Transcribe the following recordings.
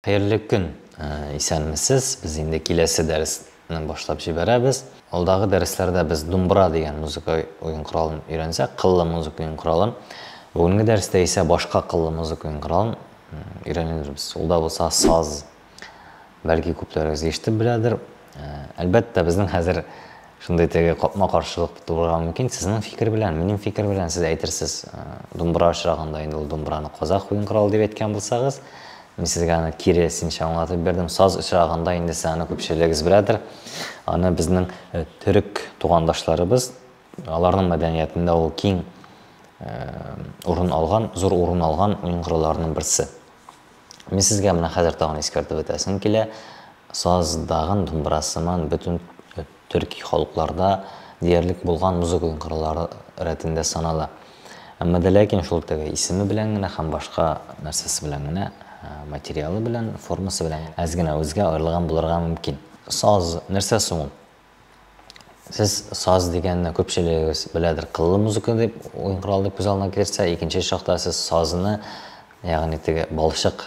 Хәерле көн! Исәнмесез! Без инде киләсе дәресне башлап җибәрәбез. Алдагы дәресләрдә без думбра дигән музыка уен коралын өйрәнсәк, кыллы музыка уен коралын. Бүгенге дәрестә исә башка кыллы музыка уен коралын өйрәнербез. Ул да булса саз. Бәлки күпләрегез ишетеп беләдер. Э, әлбәттә, безнең хәзер шундый теге капма-каршылык тууга мөмкин. Сезнең фикер белән, минем фикер белән сез әйтерсез, э, думбра очрагында инде ул думбраны казах уен коралы дип әйткән булсагыз, мин сезгә аны кире синчә аңлатып бердем. Саз очрагында инде сез аны күпчелегегез беләдер. Аны безнең э, төрек тугандашларыбыз, аларның мәдәниятендә ул киң урын алган, зур урын алган уен коралларының берсе. Мин сезгә менә хәзер тагын искәртеп үтәсем килә, саз, дагын думбра сыман бөтен төрки халыкларда диярлек булган музыка уенкырлары рәтендә санала. Әмма дә ләкин шул теге исеме белән генә һәм башка нәрсәсе белән генә, материалы белән, формасы белән әз генә үзгә аерылган булырга мөмкин. Саз, нәрсә соң ул? Сез саз дигәнне күпчелегегез беләдер, кыллы музыка дип уен коралы дип күз алдына китерсә, икенче чакта сез сазны, ягъни теге балчык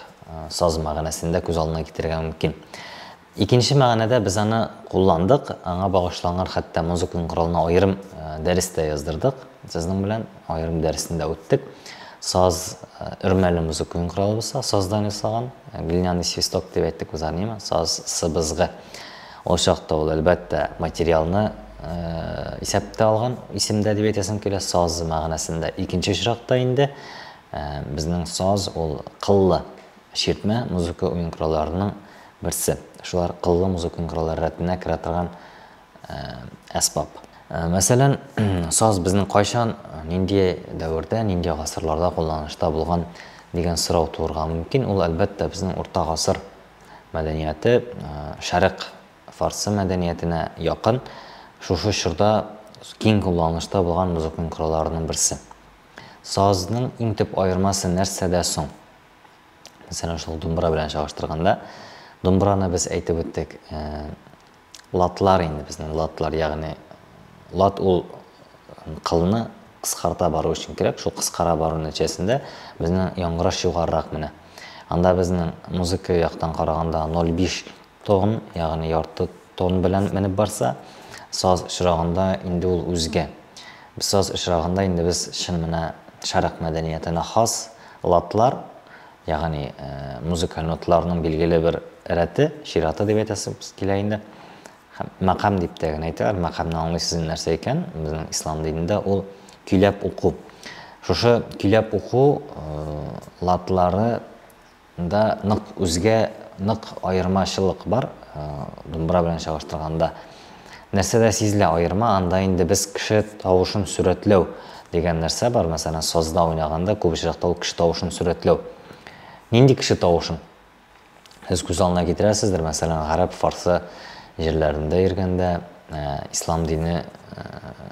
саз мәгънәсендә күз алдына китерергә мөмкин. Икенче мәгънәдә без аны кулландык, аңа багышланган хәтта музыка коралына аерым дәрес тә яздырдык. Сезнең белән аерым дәресен дә үттек. Саз өрмәле музыка коралы булса, саздан ясалган, глиняный свисток дип әйттек без аны, саз сыбызгы. Ул чакта ул, әлбәттә, материалны исәптә алган исемдә дип әйтәсем килә, саз мәгънәсендә. Икенче очракта инде безнең саз ул кыллы чиртмә музыка уен коралларының берсе. Шулар кыллы музыка уен кораллары рәтенә керә торган әсбап. Мәсәлән, саз безнең кайчан, нинди дәвердә, нинди гасырларда кулланышта булган дигән сорау туырга мөмкин. Ул, әлбәттә, безнең урта гасыр мәдәнияте Шәрык фарсы мәдәниятенә якын, шушы чорда киң кулланылышта булган музыкның коралларының берсе. Сазның иң төп аермасы нәрсәдә соң? Мәсәлән, шул думбра белән чагыштырганда, думбраны без әйтеп үттек, Латлар инде безнең латлар, ягъни лат ул кылны кыскарта бару өчен кирәк, шул кыскара бару нәтиҗәсендә безнең яңгыраш югарырак менә. Анда безнең музыка яктан караганда 0,5 тон, ягъни ярты тон белән менеп барса, саз очрагында инде ул үзгә. Саз очрагында инде без чын менә шәрык мәдәниятенә хас латлар, Ягъни, музыкаль ноталарның билгеле бер рәте, чираты дип әйтәсебез килә инде. Һәм мәкам дип тә генә әйтәләр. Мәкамның аңлый сүзе нәрсә икән? Безнең ислам динендә ул көйләп уку. Шушы көйләп уку латлары да нык үзгә, нык аермачылык бар, думбра белән чагыштырганда. Нәрсә дә сизелә аерма, анда инде без кеше тавышын сурәтләү дигән нәрсә бар, мәсәлән, сазда уйнаганда күп очракта ул кеше тавышын сурәтләү. Нинди кеше тавышын? Сез күз алдына китерәсездер, мәсәлән, гарәп, фарсы җирләрендә йөргәндә, ә, ислам дине, ә,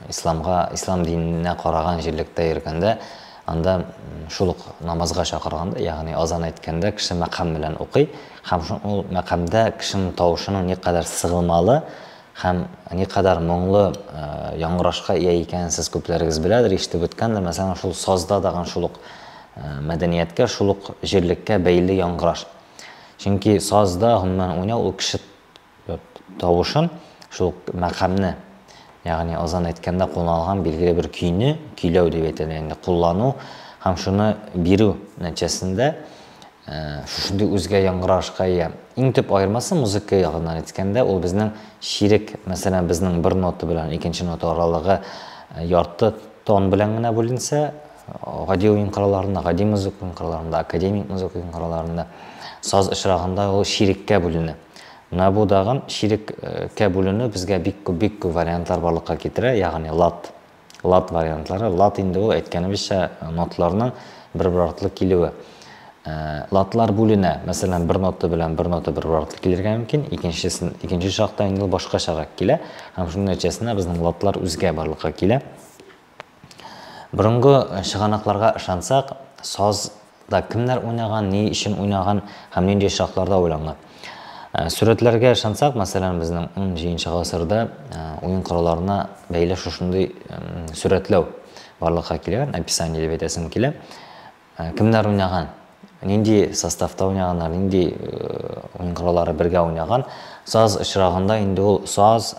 исламга, ислам диненә караган җирлектә йөргәндә, анда шул ук намазга чакырганда, ягъни азан әйткәндә кеше мәкам белән укый, Һәм шул мәкамдә кешенең тавышының никадәр сыгылмалы һәм никадәр моңлы яңгырашка ия икәнен сез күпләрегез беләдер, ишетеп үткәндер. Мәсәлән, шул сазда да ган шул ук мәдәнияткә, шул ук җирлеккә бәйле яңгыраш. Чөнки сазда, гомумән, уйнау ул кеше тавышын, шул мәкамне, ягъни азан әйткәндә кулланылган билгеле бер көйне, көйләү дип әйтелә инде, куллану һәм шуны бирү нәтиҗәсендә шушындый үзгә яңгырашка ия. Иң төп аермасы музыка ягыннан әйткәндә, ул безнең чирек, мәсәлән, безнең бер нота белән икенче нота аралыгы ярты тон белән генә бүленсә, гади уен коралларында, гади музыка коралларында, академик музыка коралларында, саз очрагында ул чиреккә бүленә. Менә бу дагын чирек кә бүленү безгә бик күп бик күп вариантлар барлыкка китерә, ягъни лад. Лад вариантлары. Лад инде ул әйткәнебезчә ноталарның бер-бер артлы килүе. Ладлар бүленә. Мәсәлән, бер нота белән бер нота бер-бер артлы килергә мөмкин, икенчесен икенче чакта инде ул башкачарак килә. Һәм шуның нәтиҗәсендә безнең ладлар үзгә барлыкка килә. Борынгы чыганакларга ышансак, саз да кемнәр уйнаган, ни өчен уйнаган һәм нинди очракларда уйланган? Сурәтләргә ышансак, мәсәлән, безнең 17 гасырда уен коралларына бәйле шушындый сурәтләү барлыкка килгән, описание дип әйтәсем килә. Кемнәр уйнаган, нинди составта уйнаганнар, нинди уен кораллары бергә уйнаган? Саз очрагында инде ул саз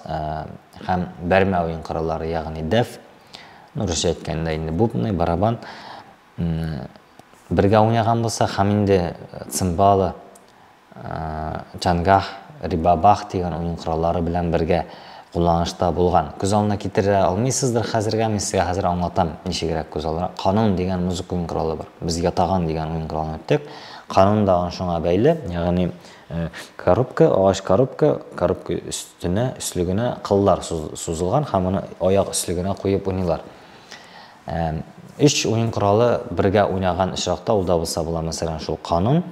һәм бәрмә уен кораллары, ягъни дәф, ну, русча әйткәндә инде бубны, барабан бергә уйнаган булса һәм инде цимбалы, Чангах, Рибабах дигән уен кораллары белән бергә кулланышта булган. Күз алдына китерә алмыйсыздыр хәзергә, мин сезгә хәзер аңлатам, ничегрәк күз алдына. Канун дигән музыка уен коралы бар. Без ятаган дигән уен коралын үттек. Канун да шуңа бәйле, ягъни коробка, агач коробка, коробка өстенә, өслегенә кыллар сузылган һәм аны аяк өслегенә куеп уйныйлар. Өч уен коралы бергә уйнаган очракта ул да булса була, мәсәлән, шул канун,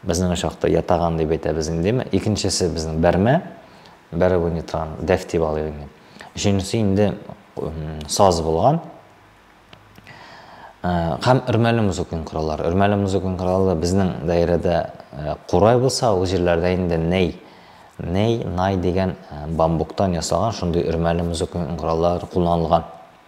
Безнең очакта ятаган дип әйтәбез инде, димме? Икенчесе безнең бәрмә, бәреп уйный торган, дәф дип алып уйный. Өченчесе инде саз булган. Э, һәм өрмәле музыканың кораллары. Өрмәле музыканың коралы безнең даирәдә э, курай булса, ул җирләрдә инде ней, ней, най дигән э, бамбуктан ясалган шундый өрмәле музыканың кораллары кулланылган.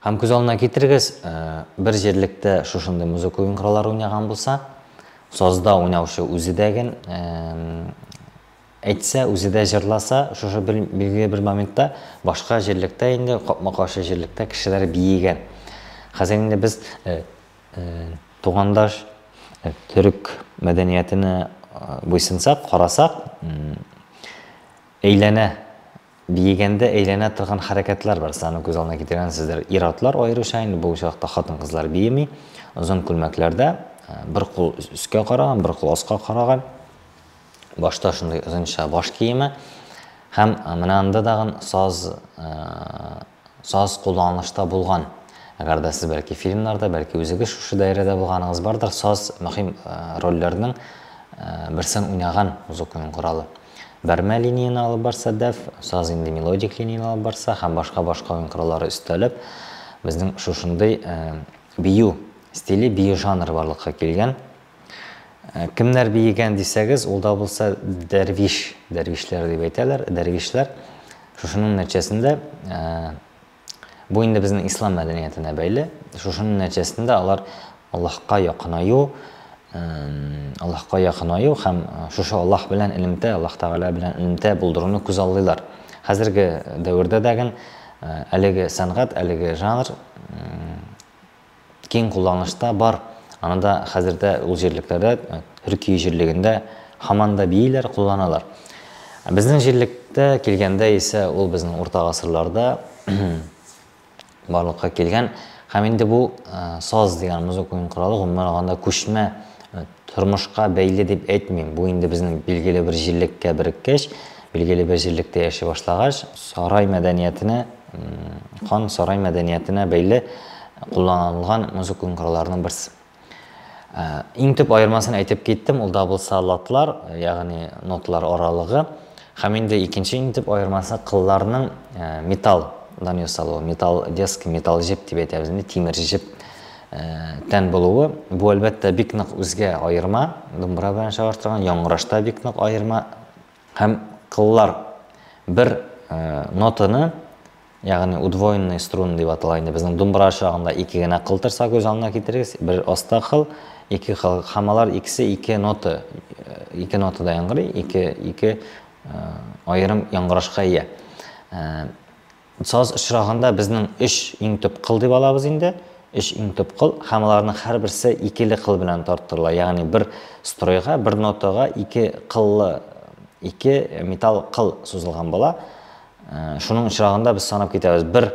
Һәм күз алдына китерегез, бер җирлектә шушындый музыка уенкыралары уйнаган булса, сазда уйнаучы үзе дә ген әйтсә, үзе дә җырласа, шушы бер билгеле бер моментта башка җирлектә инде капма-каршы җирлектә кешеләр биегән. Хәзер инде без тугандаш төрек мәдәниятенә буйсынсак, карасак, әйләнә Биегәндә әйләнә торган хәрәкәтләр бар, сез аны күз алдына китергәнсездер. Ир-атлар аеруча, инде бу очракта хатын-кызлар биеми, озын күлмәкләрдә, бер кул өскә караган, бер кул аска караган, башта шундый озынча баш киеме һәм менә анда тагын саз, Саз кулланылышта булган. Әгәр дә сез бәлки фильмнарда, бәлки үзегез шушы даирәдә булганыгыз бардыр, саз мөһим рольләрнең берсен уйнаган музык уен коралы. Бәрмә линияне алып барса, дәф, саз инде мелодик линияне алып барса һәм башка-башка уен кораллары өстәлеп, безнең шушындый бию стиле, бию жанры барлыкка килгән. Кемнәр биегән дисәгез, ул да булса дәрвиш, дәрвишләр дип әйтәләр, дәрвишләр. Шушының нәтиҗәсендә бу инде безнең ислам мәдәниятенә бәйле. Шушының нәтиҗәсендә алар Аллаһка якынаю, Аллаһка якынаю һәм шушы Аллаһ белән элемтә, Аллаһ Тәгалә белән элемтә булдыруны күз аллыйлар. Хәзерге дәвердә дәген әлеге сәнгать, әлеге жанр киң кулланышта бар. Аны да хәзер дә ул җирлекләрдә, Төркия җирлегендә һаман да бииләр, кулланалар. Безнең җирлеккә килгәндә исә ул безнең урта гасырларда барлыкка килгән һәм инде бу саз дигән музыка уен коралы, гомумән алганда, күчмә. Тормышка бәйле дип әйтмим, бу инде безнең билгеле бер җирлеккә береккәч, билгеле бер җирлектә яши башлагач, сарай мәдәниятенә, хан сарай мәдәниятенә бәйле кулланылган музыкаль коралларның берсе. Ә, иң төп аермасын әйтеп киттем, ул да булса латлар, ягъни ноталар аралыгы. Һәм инде икенче иң төп аермасы кылларның ә, металлдан ясалуы, металл деска, металл җеп дип әйтәбез инде, тимер җеп. тән булуы, бу әлбәттә бик нык үзгә аерма, думбра белән чагыштырган яңгырашта бик нык аерма һәм кыллар бер нотаны ягъни удвоенный струн дип атала инде безнең думбра чагында ике генә кыл торса күз алдына китерегез бер аста кыл ике кыл һәм алар икесе ике нота ике нотада яңгырый ике ике аерым яңгырашка ия Саз очрагында безнең өч иң төп кыл дип алабыз инде, өч иң төп кыл һәм аларның һәрберсе икеле кыл белән тарттырыла, ягъни бер стройга, бер нотага ике кыллы ике металл кыл сузылган була. Шуның очрагында без санап китәбез. Бер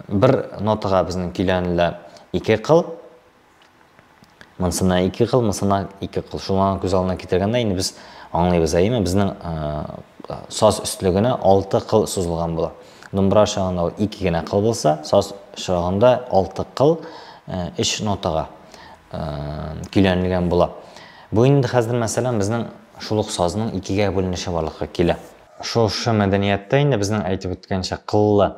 бер нотага безнең көйләнелә ике кыл, Монсына ике кыл, монсына ике кыл. Шуңа күз алдына китергәндә инде без аңлыйбыз, әйеме? Безнең саз өстлегенә алты кыл сузылган була. Думбра шагында ул ике генә кыл булса, саз шагында алты кыл өч нотага көйләнелгән була. Бу инде хәзер мәсәлән безнең шул ук сазның икегә бүленеше барлыкка килә. Шушы мәдәнияттә инде безнең әйтеп үткәнчә кыллы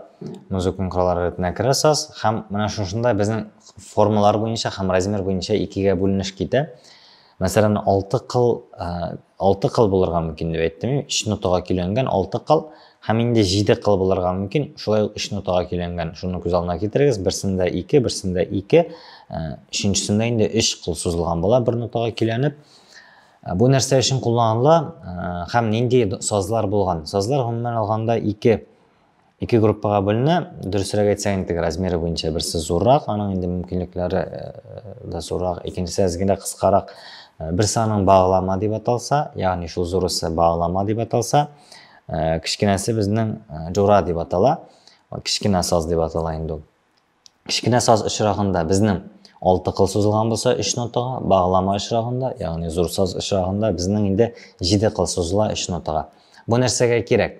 музыкон кораллары рәтенә керә саз һәм менә шушында безнең формалар буенча һәм размер буенча икегә бүленеш китә. Мәсәлән, алты кыл, э, алты кыл булырга мөмкин дип әйттем, өч нотага көйләнгән алты кыл һәм инде җиде кыл булырга мөмкин, шулай ук өч нотага көйләнгән. Шуны күз алдына китерегез, берсендә ике, берсендә ике, э, өченчесендә инде өч кыл сузылган була бер нотага көйләнеп. Ә бу нәрсә өчен кулланыла һәм нинди сазлар булган? Сазлар гомумән алганда ике ике группага бүленә. Дөресрәк әйтсәк, инде размеры буенча берсе зуррак, аның инде мөмкинлекләре да зуррак, икенчесе әзгенә кыскарак. Берсе аның баглама дип аталса, ягъни шул зурысы баглама дип аталса, кечкенәсе безнең жура дип атала. Кечкенә саз дип атала инде ул. Кечкенә саз очрагында безнең алты кыл сузылган булса, өч нотага, баглама очрагында, ягъни зур саз очрагында безнең инде җиде кыл сузыла өч нотага. Бу нәрсәгә кирәк?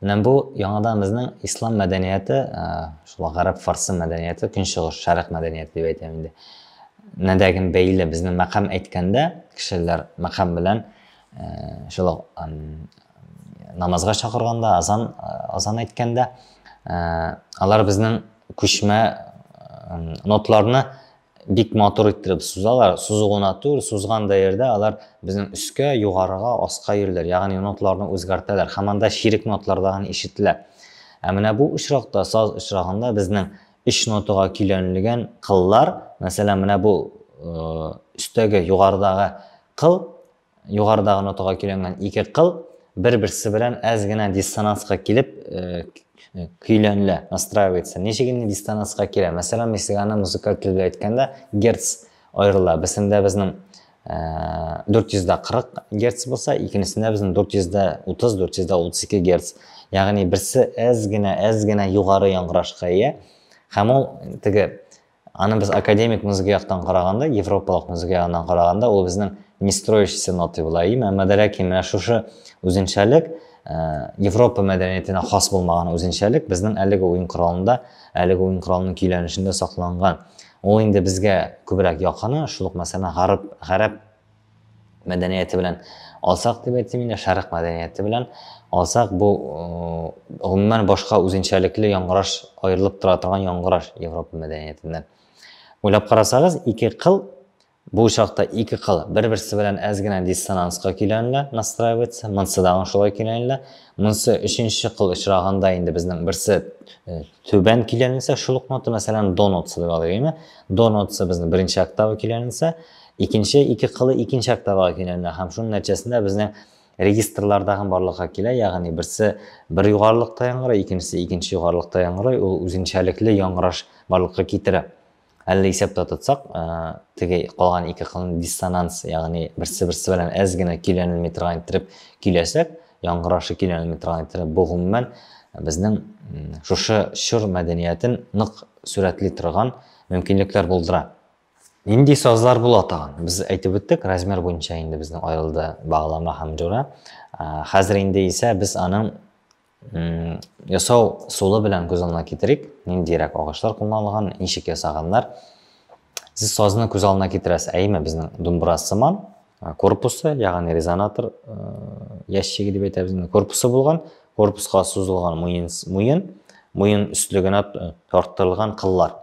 Менә бу яңадан безнең ислам мәдәнияте, э, шул гарәп фарсы мәдәнияте, көнчыгыш шәрык мәдәнияте дип әйтәм инде. Нәдәген бәйле безнең мәкам әйткәндә, кешеләр мәкам белән шулай намазга чакырганда азан азан әйткәндә алар безнең күчмә нотларны бик матур иттереп сузалар сузу гына түгел сузган да ердә алар безнең өскә югарыга аска йөриләр ягъни нотларны үзгәртәләр һәм анда ширек нотларда гына ишетелә ә менә бу очракта саз очрагында безнең өч нотага көйләнелгән кыллар мәсәлән менә бу өстәге югарыдагы кыл, югарыдагы нотага көйләнгән ике кыл бер-берсе белән әз генә диссонанска килеп э, э, көйләнелә, настраивается. Ничек инде диссонанска килә? Мәсәлән, мексиканы музыкаль тел белән әйткәндә герц аерыла. Берсендә безнең 440 э, герц булса, икенчесендә безнең 430-432 герц. Ягъни берсе әз генә, әз генә югары яңгырашка ия. Һәм ул теге Аны без академик музыка яктан караганда, европалык музыка ягыннан караганда, ул безнең не строящийся ноты була. Им, әмма дә ләкин менә шушы үзенчәлек, э, Европа мәдәниятенә хас булмаган үзенчәлек безнең әлеге уен коралында, әлеге уен коралының көйләнешендә сакланган. Ул инде безгә күбрәк якыны, шул ук мәсәлән гарәп, гарәп мәдәнияте белән алсак дип әйтим инде, шәрык мәдәнияте белән алсак, бу гомумән башка үзенчәлекле яңгыраш, аерылып тора торган яңгыраш Европа мәдәниятеннән. Уйлап карасагыз, ике кыл бу чакта ике кыл бер-берсе белән әз генә диссонанска киләнлә, настраивается, монсы да шулай киләнлә. Монсы өченче кыл очраганда инде безнең берсе э, түбән киләнләсә, шул ук нота, мәсәлән, до нотасы дип алыйк, До нотасы безнең беренче октава киләнләсә, Икенче ике кылы икенче октавага көйләнә һәм шуның нәтиҗәсендә безнең регистрлардагы барлыкка килә, ягъни берсе бер югарылыкта яңгырый, икенчесе икенче югарылыкта яңгырый, ул үзенчәлекле яңгыраш барлыкка китерә. Әллә исәптә тотсак, теге калган ике кылны диссонанс, ягъни берсе-берсе белән әз генә көйләнелми торган иттереп көйләсәк, яңгырашы көйләнелми торган иттереп, бу гомумән безнең шушы чор мәдәниятен нык сурәтли торган мөмкинлекләр булдыра. Нинди сазлар була тагын? Без әйтеп үттек, размер буенча инде безнең аерылды баглама һәм җура. Хәзер инде исә без аның ясау сулы белән күз алдына китерик. Ниндирәк агачлар кулланылган, ничек ясаганнар. Сез сазны күз алдына китерәсез, әйеме, безнең думбра сыман, корпусы ягъни резонатор ящиге дип әйтәбез инде корпусы булган корпуска сузылган муен муен муен өстле генә тарттырылган кыллар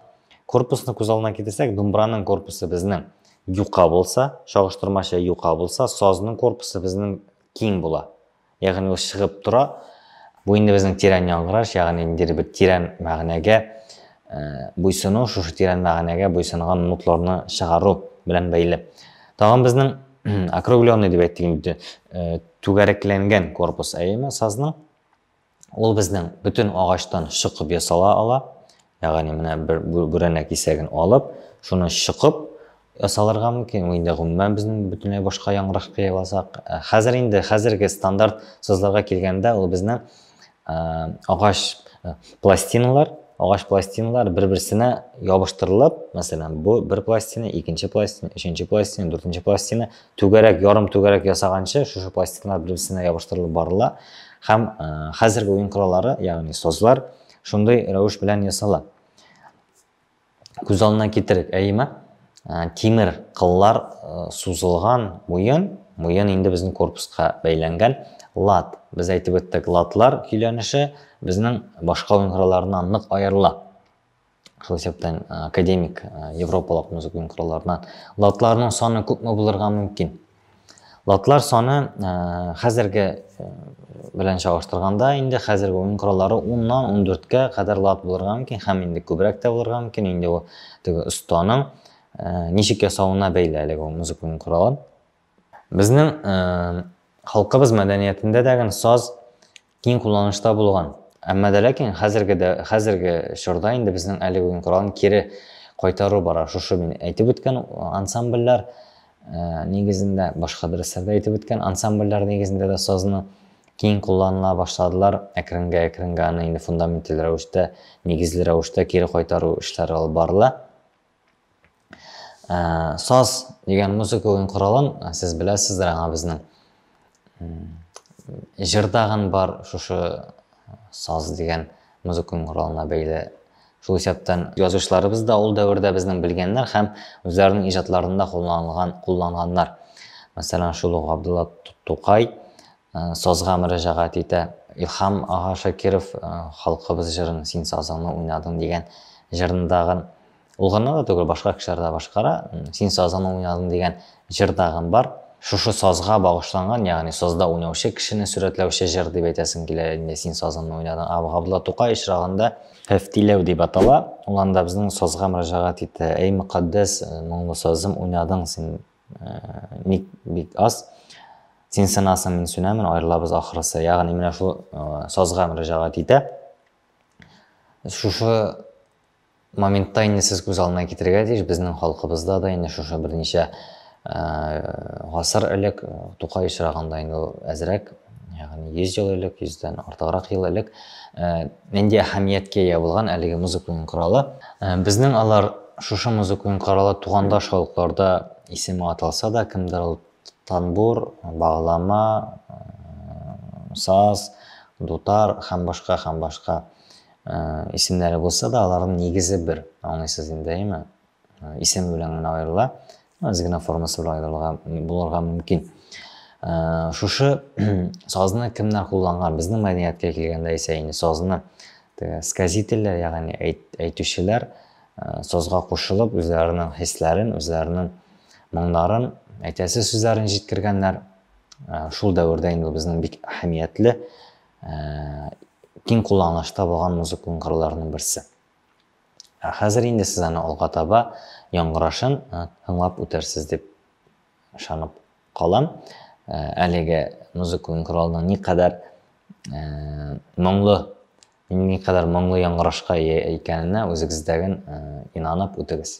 корпусны күз алдына китерсәк думбраның корпусы безнең юка булса чагыштырмача юка булса сазның корпусы безнең киң була Ягъни ул чыгып тора. Бу инде безнең тирән яңгыраш, ягъни ниндидер бер тирән мәгънәгә буйсыну, шушы тирән мәгънәгә буйсынган нотларны чыгару белән бәйле. Тагын безнең округленный дип әйттек инде, түгәрәкләнгән корпус, әйеме, сазның. Ул безнең бөтен агачтан чыгып ясала ала. Ягъни менә бер бүрәнә кисәген алып, шуны чыкып ясалырга мөмкин. Ул инде гомумән безнең бөтенләй башка яңгырак кыяласак. Э, хәзер инде хәзерге стандарт сазларга килгәндә ул безнең э, агач э, пластиналар, агач пластиналар бер-берсенә ябыштырылып, мәсәлән, бу бер пластина, икенче пластина, өченче пластина, дүртенче пластина, түгәрәк, ярым түгәрәк ясаганчы шушы пластиналар бер-берсенә ябыштырылып барыла һәм хәзерге уен кораллары, ягъни сазлар Шундый рәвеш белән ясала. Күз алдына китерик, әйеме? Ә, тимер кыллар ә, сузылган муен, муен инде безнең корпуска бәйләнгән. Лат, без әйтеп үттек, латлар көйләнеше безнең башка уенкыраларыннан нык аерыла. Шул исәптән ә, академик ә, европалык музыка уенкыраларыннан. Латларның саны күпме булырга мөмкин? Лотлар саны э, хәзерге э, белән чагыштырганда инде хәзерге уен кораллары 10-нан 14-кә кадәр лот булырга мөмкин һәм инде күбрәк тә булырга мөмкин. Инде ул теге останың э, ничек ясавына бәйле әлеге ул музыка уен коралы. Безнең халкыбыз мәдәниятендә дә саз киң кулланышта булган. Әмма дә ләкин хәзерге дә хәзерге чорда инде безнең әлеге уен коралын кире кайтару бара. Шушы мин әйтеп үткән ансамбльләр нигезендә, башка дәресләрдә әйтеп үткән ансамбльләр нигезендә дә сазны киң кулланыла башладылар. Әкренге-әкренге аны инде фундаменталь рәвештә, нигезле рәвештә кире кайтару эшләре алып барыла. Ә, саз дигән музыка уен коралын сез беләсездер аңа безнең. Җыр тагын бар шушы саз дигән музыка уен коралына бәйле. Шул исәптән язучыларыбыз да ул дәвердә безнең белгәннәр һәм үзләренең иҗатларында кулланылган, кулланганнар. Мәсәлән, шул ук Габдулла Тукай, Сазга мөрәҗәгать итә. Илһам ага Шакиров Халкыбыз җырын син сазыңны уйнадың дигән җырындагы, ул гына да түгел, башка кешеләр дә башкара, син сазыңны уйнадың дигән җырдагы бар. Шушы сазга багышланган, ягъни сазда уйнаучы кешене сурәтләүче җыр дип әйтәсем килә инде, син сазыңны уйнадың. Ә Габдулла Тукай очрагында Фәфтиләү дип атала, ул анда безнең сазга мөрәҗәгать итә. Әй, мөкатдәс моңлы сазым, уйнадың син ник бик аз син сынасың мин сүнәмен аерылабыз ахрысы ягъни менә шул сазга мөрәҗәгать итә шушы моментта инде сез күз алдына китерергә тиеш безнең халкыбызда да инде шушы берничә гасыр элек тукай очрагында инде әзрәк ягъни 100 ел элек, 100дән артыграк ел элек нинди әһәмияткә ия булган әлеге музыка уен коралы. Безнең алар шушы музыка уен коралы тугандаш халыкларда исеме аталса да, кемдер ул танбур, баглама, саз, дутар һәм башка һәм башка исемнәре булса да, аларның нигезе бер. Аңлыйсыз инде, әйме? исеме белән генә аерыла, аз генә формасы белән аерылырга булырга мөмкин. Шушы сазны кемнәр кулланган? Безнең мәдәнияткә килгәндә исә инде сазны сказительләр, ягъни әйтүчеләр сазга кушылып, үзләренең хисләрен, үзләренең моңнарын, әйтәсе сүзләрен җиткергәннәр. Шул дәвердә инде безнең бик әһәмиятле киң кулланышта булган музыка кырларының берсе. Ә хәзер инде сез аны алга таба яңгырашын тыңлап үтерсез дип ышанып калам. Әлеге музыка уен коралының никадәр моңлы, никадәр моңлы яңгырашка ия икәненә үзегездәген инанып үтегез.